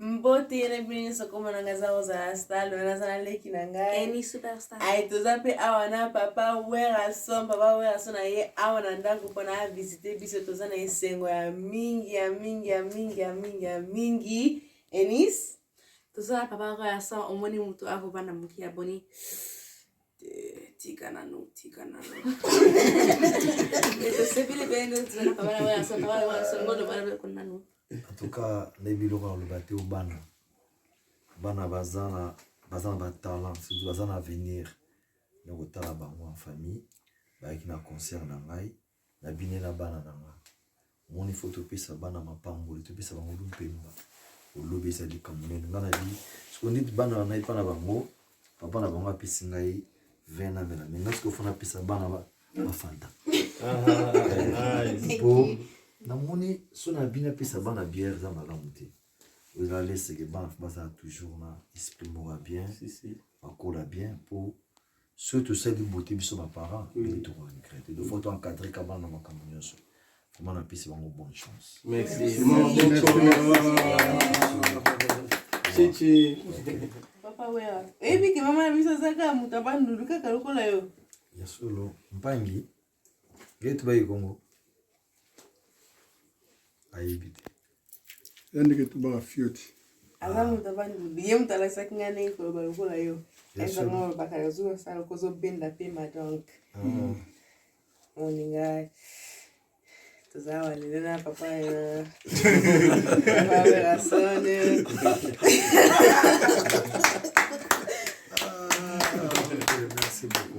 mbote na bino nyonso koma na ngai eza kozala stale wana aza na leki na ngai ai toza mpe awa na papa werason papa werason na ye awa na ndako mpona avisite biso toza na esengo ya mingi ya mingi ya mingi ya mingi ya mingi enis toza na papa werason omoni motu akobanda moki ya boni tika nanu tika nanu tosepeli bene tozalaka bana bana sota bana bana songono bana bana kuna nanu en tout cas na biloko ya koloba te bana bana baza na baza na batalent surtout baza na avenir na kotala bango en famille bayaki na concert na ngai Na binela bana na nga. Omoni faut topesa bana mapamboli, topesa bango lupemba. Olobi eza likambo nene. Nga na bi, siko neti bana na ngai pa na bango, papa na bango apesi ngai vin na mela. Menga siko faut napesa bana ba, ba fanta. Po, namoni so na bi napesa bana bière eza malamu te. Ozala leseke bana bazala toujours na esprit moko ya bien. Bakola bien po soki tosali bote biso ba parents mm. ndenge toko regrete donc faut to encadrer ka bana makambo nyonso vraiment napesi bango bonne chance merci chichi papa wera oyebi ke mama na biso aza kaka moto abandulu kaka lokola yo ya solo mpangi Gate bayi Congo ayebi te ya ndeke tubaka fioti aza moto abandi ye moto alakisaki ngai ndenge koloba lokola yo ezanga olobaka nazuwa sala kozobenda mpema donc moninga ah. toza awa lelo na papa ya werasone ah, Merci beaucoup.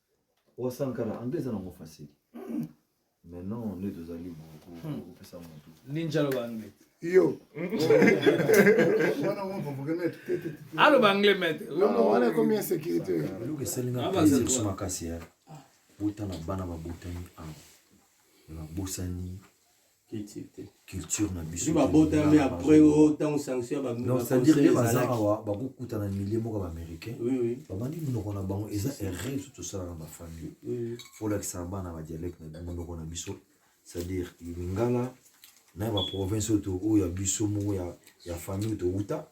Wa Sankara, anglais eza nango facile. Mais non, nde tozali kopesa motu. Ninja aloba anglais. Yo. Wana mwa provoke maître. Aloba anglais maître. Non, non, wana ekomi insécurité. Eloko esali nga plaisir kusu makasi ya. Botala bana babotami awa. Babosani culture na biso bakokutana milie moko baaméricain babandi monoko na bango eza erreur biso tosala na bafamille folakisa bana badialecte na monoko na biso c'est-à-dire lingala na ya baprovince oyo ya biso moko ya famille towuta